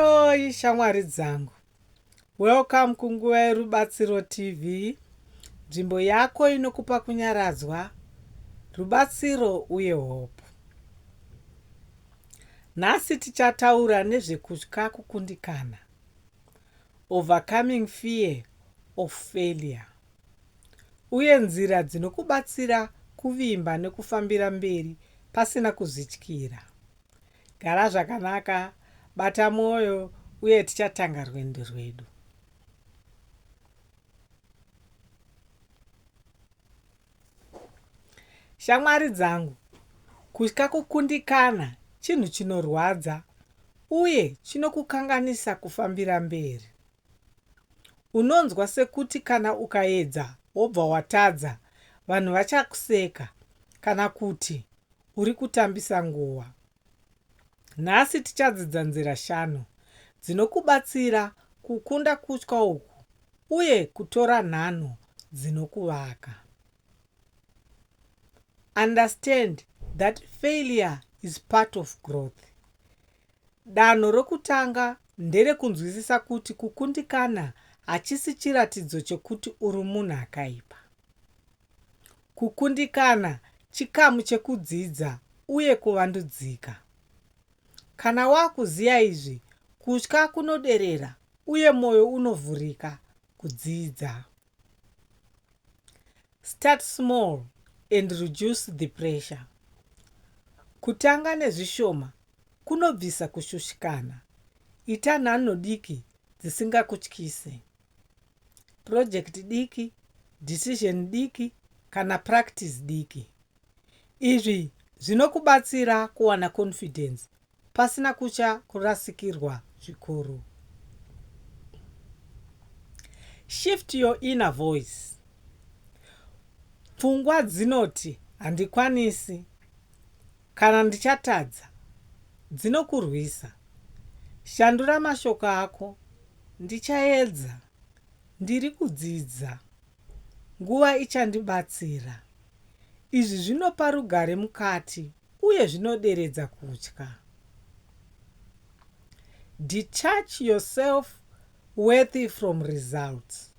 Oi shamwari dzangu, welcome kunguva yerubatsiro TV, nzvimbo yako inokupa kunyaradzwa, rubatsiro uye hope. Nhasi tichataura nezvekutya kukundikana, overcoming fear of failure, uye nzira dzinokubatsira kuvimba nekufambira mberi pasina kuzvityira. Gara zvakanaka, bata mwoyo, uye tichatanga rwendo rwedu. Shamwari dzangu, kutya kukundikana chinhu chinorwadza uye chinokukanganisa kufambira mberi. Unonzwa sekuti kana ukaedza wobva watadza, vanhu vachakuseka kana kuti uri kutambisa nguva. Nhasi tichadzidza nzira shanu dzinokubatsira kukunda kutya uku uye kutora nhanho dzinokuvaka. Understand that failure is part of growth. Danho rokutanga nderekunzwisisa kuti kukundikana hachisi chiratidzo chokuti uri munhu akaipa. Kukundikana chikamu chekudzidza uye kuvandudzika. Kana wakuziva izvi, kutya kunoderera uye moyo unovhurika kudzidza. Start small and reduce the pressure. Kutanga nezvishoma kunobvisa kushushikana. Ita nhanho diki dzisingakutyise. project diki, decision diki kana practice diki. Izvi zvinokubatsira kuwana confidence pasina kutya kurasikirwa zvikuru. Shift your inner voice. Pfungwa dzinoti handikwanisi Kana ndichatadza, dzinokurwisa. Shandura mashoko ako. Ndichaedza. Ndiri kudzidza. Nguva ichandibatsira. Izvi zvinopa rugare mukati uye zvinoderedza kutya. Detach your self worthy from results.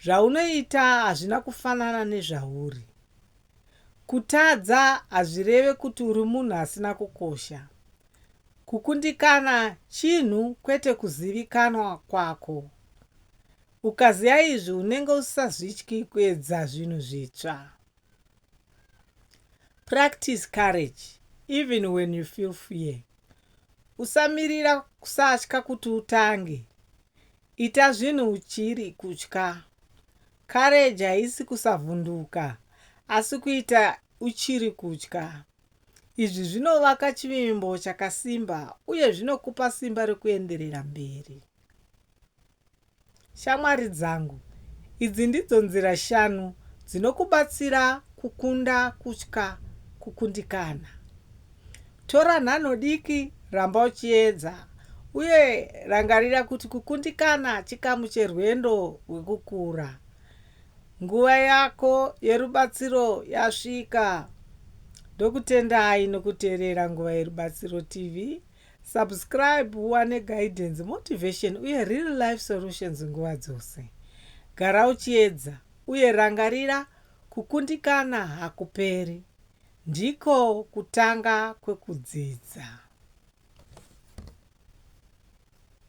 Zvaunoita hazvina kufanana nezvauri. Kutadza hazvireve kuti uri munhu asina kukosha. Kukundikana chinhu kwete kuzivikanwa kwako. Ukaziva izvi unenge usisazvityi kuedza zvinhu zvitsva. Practice courage even when you feel fear. Usamirira kusatya kuti utange. Ita zvinhu uchiri kutya. Courage haisi kusavhunduka asi kuita uchiri kutya. Izvi zvinovaka chivimbo chakasimba uye zvinokupa simba rekuenderera mberi. Shamwari dzangu, idzi ndidzo nzira shanu dzinokubatsira kukunda kutya kukundikana. Tora nhanho diki, ramba uchiedza, uye rangarira kuti kukundikana chikamu cherwendo rwekukura. Nguva yako yerubatsiro yasvika. Ndokutendai nokuteerera Nguva Yerubatsiro TV. Subscribe uwane guidance, motivation uye real life solutions nguva dzose. Gara uchiedza uye rangarira kukundikana hakuperi. Ndiko kutanga kwekudzidza.